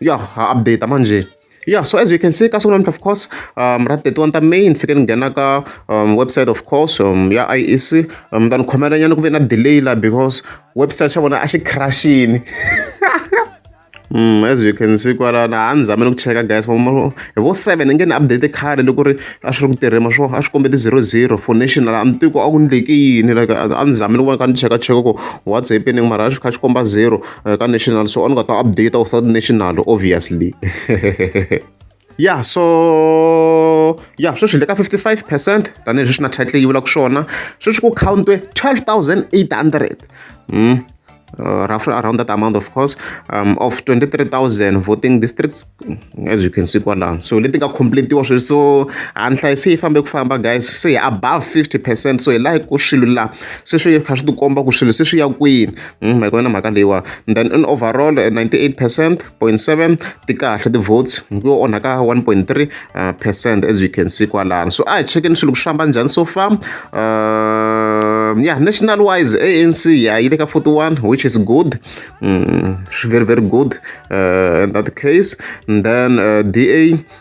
ya ha update manje yeah so as you can see ka siku namuntlha of course um ra 31 ta may ni fike ni nghena ka um, website of course um, ya iec um, ta ni khomela nyana ku ve na delay la because website xa vona a xi crashini Mm, as you can see kwala na ha ni zamele ku cheka guys hi vo seven nge ni update khale loko ri a swi ri ku tirhima swo a swi kombe ti zero zero for national a ni tiko a ku ni leki yini like a ni zamele ku va ni kha ni cheka cheka ku whatsapp ni mara a swi kha swi komba zero ka national so a ni nga ta update without national obviously ya so ya sweswi le ka 55 percent tanihileswi swi na title yi vulaka swona sweswi ku countwe 12800 mm. Uh, roughly around that amount of course um, of 23000 voting districts as you can see kwalano so leti nga completiwa sweswi so a ni hlayi se yi fambe ku famba guys se hi above 50 percent so hi laha ku swilo laha se swi kha swi tikomba ku swilo se swi ya kwini Hmm, ma yi kona mhaka leyiwa then in overall 98 eh, percent point seven ti kahle ti-votes hi ku yo onhaka one point three eh, percent as you can see kwalano so a hi chekeni swilo ku swi famba njhani so far um, yeah national wise anc ya yi le ka 41 which is good mm, very very good uh, in that case and then uh, da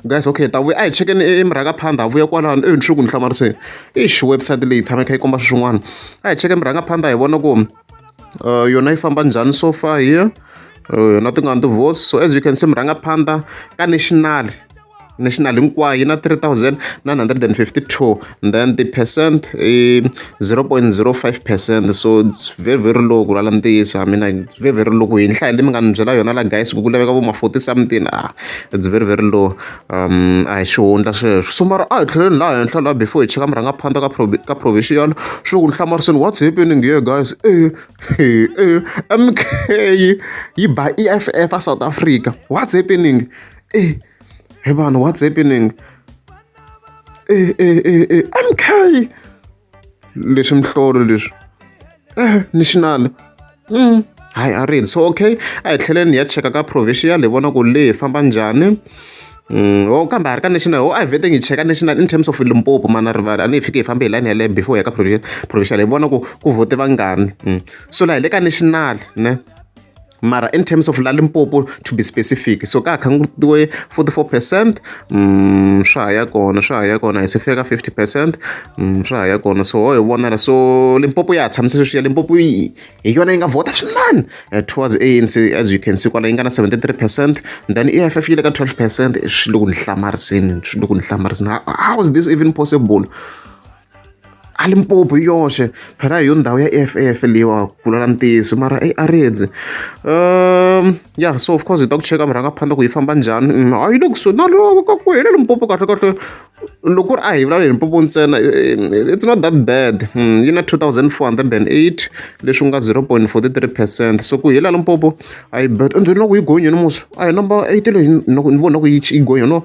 Guys okay hi ta vuya a hi chekeni e, e mirhanga phanda ha vuya kwalano e nsuku ni hlamariseni ixi website leyi tshame kha yi komba swin'wana a hi cheke mirhanga phanda hi vona ku uh, yona yi famba njhani so far here uh, yona ti nga ni tivotes so as you can see mirhanga phanda ka national national hinkwayo yi na 3952 then ti-percent i zero point zero five percent so its very very low ku lwala ntiyiso I mean like its very very low ku hi nhlayo leyi mi nga ni byela yona la guys ku ku laveka vo ma forty something a its very very low a hi xihundla sweswo so mara a hi tlheleni laha henhla laha before hi cheka murhangaphandza ka ka provincial swi ku ni hlamariseni what's happening here guys e e e M_K yi ba E_F_F a South Africa what's happening e he vanhu what's happening. e e e e MK leswi mihlolo leswi national hayi a ri so okay a hi tlheleni hi ya cheka ka provincial hi vona ku le hi famba njhani ho kambe a ri ka national ho a hi veteni hi cheka national in terms of Limpopo mhani na rivala a ni hi fiki hi fambe hi layeni ya leyo before hi ya ka provincial hi vona ku ku vote vangani so la hi le ka national ne. mara in terms of la limpopo to be specific so ka ha khangutiwe 44 percent um swa ha ya kona swa ha ya kona hi se fika ka 50 percent um swa ha ya kona so ho hi vonela so limpopo ya ha tshamise sweswi ya limpopo hi yona yi nga vhota swinene eh, towards anc as you can see kwala yi nga na 73 percent then e eff yi le ka 12 percent swi le ku ni hlamariseni swi le ku ni hlamariseni how is this even possible A Limpopo hi yoxe phela hi yo ndhawu ya E_F_F leyiwa ku vula la ntiyiso mara eyi a ri endzi ya so of course hi ta ku cheka murhangaphandle ku yi famba njhani a yi le kusuhi na loko ka ku hi le Limpopo kahlekahle loko ku ri a hi vulavula hi Limpopo ntsena it's not that bad yi na two thousand four hundred and eight leswi ku nga zero point forty three percent so ku hi la Limpopo a yi bad ende na ku yi gonyile musi a hi number eight leyi ni vona ku yi yi gonya no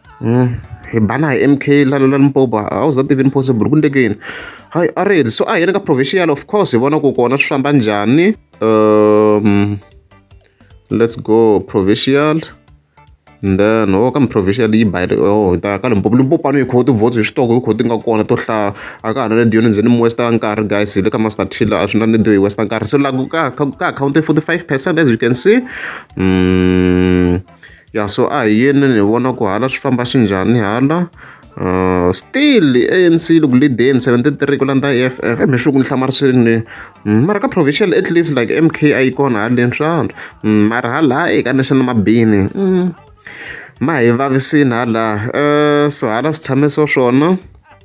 hi bana hi M_K la la Limpopo a wu za tivini possible ku endleke yini hayi a ri so a hi yeni ka provincial of course hi vona ku kona swi famba njhani um let's go provincial and then ho oh, ka provincial yi bayile o oh, hi ta ka Limpopo Limpopo a ni yi khoho ti-votes hi xitoko hi khoho ti nga kona to hlaya a ka ha na nediyo ni ndzeni mi westa nkarhi guys hi le ka master tiller a swi na nediyo hi westa nkarhi se laha ka ka akhawunti forty five percent as you can see um ya so a hi yeni ni vona ku hala swi famba swi njhani hala uh, still anc loko lideni 73 ku landza eff mi swi ku ni hlamarisini ni mm, mara ka provincial at least like mk a yi kona haleni swandra mm, mara hala eka national mabini mm, ma hi vavisini hala uh, so hala swi tshame so swona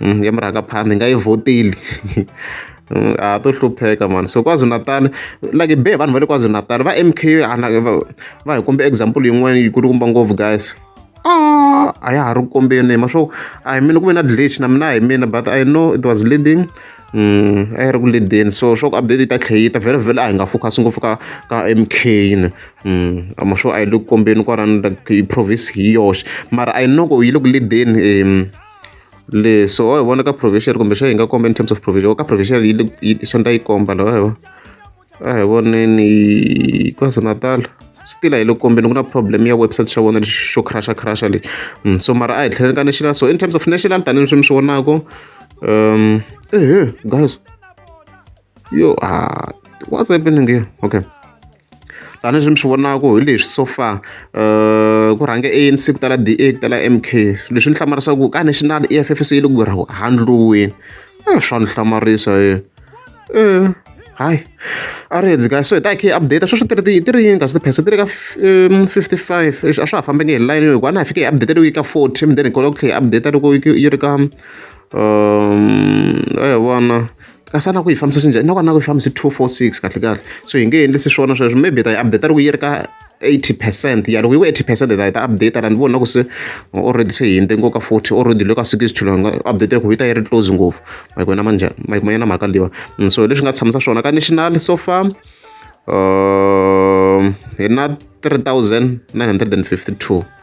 ya murhangaphandza hi nga yi vhoteli a ha to hlupheka mani so kwazulu-natal like be vanhu va le kwazulu-natal va m k va va hi kombe example yin'wana yi kulu kumba ngopfu guys Ah, a ya ha ri kombeni ma swo a hi mina ku ve na glitch na mina hi mina but i know it was leading um a yi ri ku leadeni so swa ku update yi ta tlhe yi ta vhele vhele a hi nga focus ngopfu ka ka m k ni um a ma swo a yi le ku kombeni kwalani like province hi yoxe mara i know ku yi le ku leadeni um leswi wa hi vona ka provision kumbe xa hi nga komba in terms of provision ka provision yi le yi swa nda yi komba lawa hi vona a hi voneni kwazulu natal still a yi le kombeni ku na problem ya website xa vona lexi xo crasha crasha lexi mm, so mara a hi tlheleni ka national so in terms of national tanihi leswi mi swi vonaka um ehe guys yo a what's happening here okay tanihileswi mi swi vonaka hi leswi so far um ku rhange anc ku tala da ku tala m k leswi ni hlamarisaka ku ka national e f f se yi le ku ra handliweni a eh, swa ni hlamarisa ye eh, um eh, hayi a ri hedzi kahle so hi ta hi khe update sweswi tiri ti ri yini kasi tiphese ti ri ka fifty five a swa ha fambenge hi line hikuva a na hi fike hi update loko yi ka forty then hi kota ku tlhe hi update loko yi ri ka um a hi vona kasi a na ku yi fambisa xinjhani na ku a na ku yi fambisi two four six kahle kahle so hi nge endlisi swona sweswo maybe ta yi update loko yi ri ka 80 percent ya loko yi ku 80 percent ta yi ta update la ni vona ku se already se hinde ngo ka 40 already le ka 60 to nga update ku yi ta yi ri close ngopfu mike wena manje mike mayena mhaka liwa mm, so leswi nga tshamisa swona ka national so far um hi na 3952